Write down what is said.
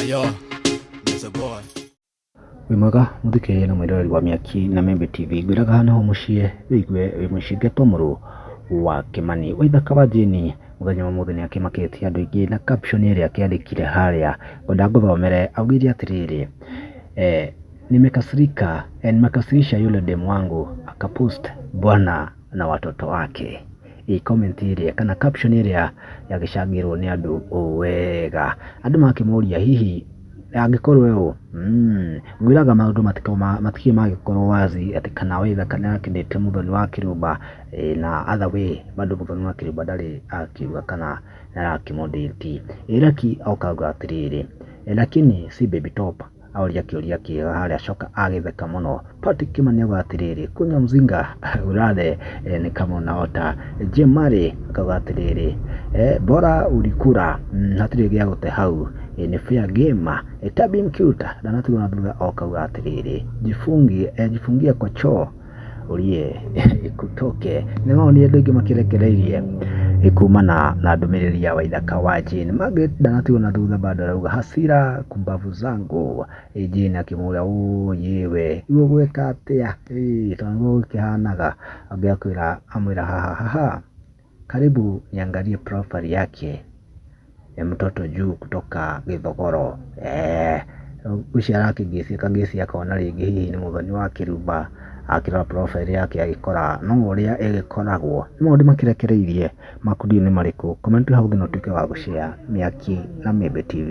Ayo, Mr. Boy. wĩ mwega mũthikĩrĩrie na mwĩroreri wa mĩaki na membe tv ngwĩraga hana ho mũciĩ wĩigue wĩ mũcinge to mũrũ wa kĩmani wĩ thaka wa jini mũthenya wa mũthĩ nĩ akĩmakĩtie andũ aingĩ na caption ĩrĩa akĩandĩkire harĩa ngwenda ngũthomere augire atĩrĩrĩ eh, nimekasirika eh, nimekasirisha yule demu wangu akapost bwana na watoto wake. Ĩ comment ĩrĩa kana caption ĩrĩa yagĩcangĩrwo nĩ andũ ũũ wega. Andũ makĩmũria hihi angĩkorwo we ũũ mm, ngwĩraga maũndũ matikoo ma- matikio magĩkorwo wazi atĩ kana wĩra kana akĩndĩte mũthoni wa kĩrũmba eh, na other way bado mũthoni wa kĩrũmba ndarĩ akiuga kana nĩarakĩmũndĩti. Ĩ Lucky okauga atĩrĩrĩ, "Eh, lakini si baby top Aũria kĩũria kĩega harĩa Coka agĩtheka mũno. Patrick Kimani auga atĩrĩrĩ, Kunya Mzinga urathe eh, ni kama unaota. Jemari akauga atĩrĩrĩ, eh, bora ulikura mm, hatirĩ gĩa gũte hau eh, ni fair game eh, Tabim Cute ndanatigwo na thutha okauga atĩrĩrĩ, jifungie eh, jifungie kwa choo ũrie ĩkutoke. Nĩ wonire andũ aingĩ makĩrekereirie kumana na ndũmĩrĩri ya Waithaka wa Jane. Margaret ndanatigwo na thutha bado arauga hasira kumbavu zangu. Ĩ Jane akĩmũria ũyĩ we rĩu ũgwĩka atĩa? Ĩ tondũ nĩguo gũkĩhanaga. Angĩakwĩra amwĩra haha haha. Karibu niangalie profile yake ya mtoto juu kutoka Githogoro. Eh, ucio arakĩngĩcia kangĩcia akona rĩngĩ hihi nĩ mũthoni wa Kĩrumba akĩrora profile yake agĩkora no ũrĩa ĩgĩkoragwo. Nĩ maũndũ makĩrekereirie maku ndiũĩ nĩ marĩkũ. Comment hau thĩ na ũtuĩke wa gũ share Mĩaki na Mĩmbi TV.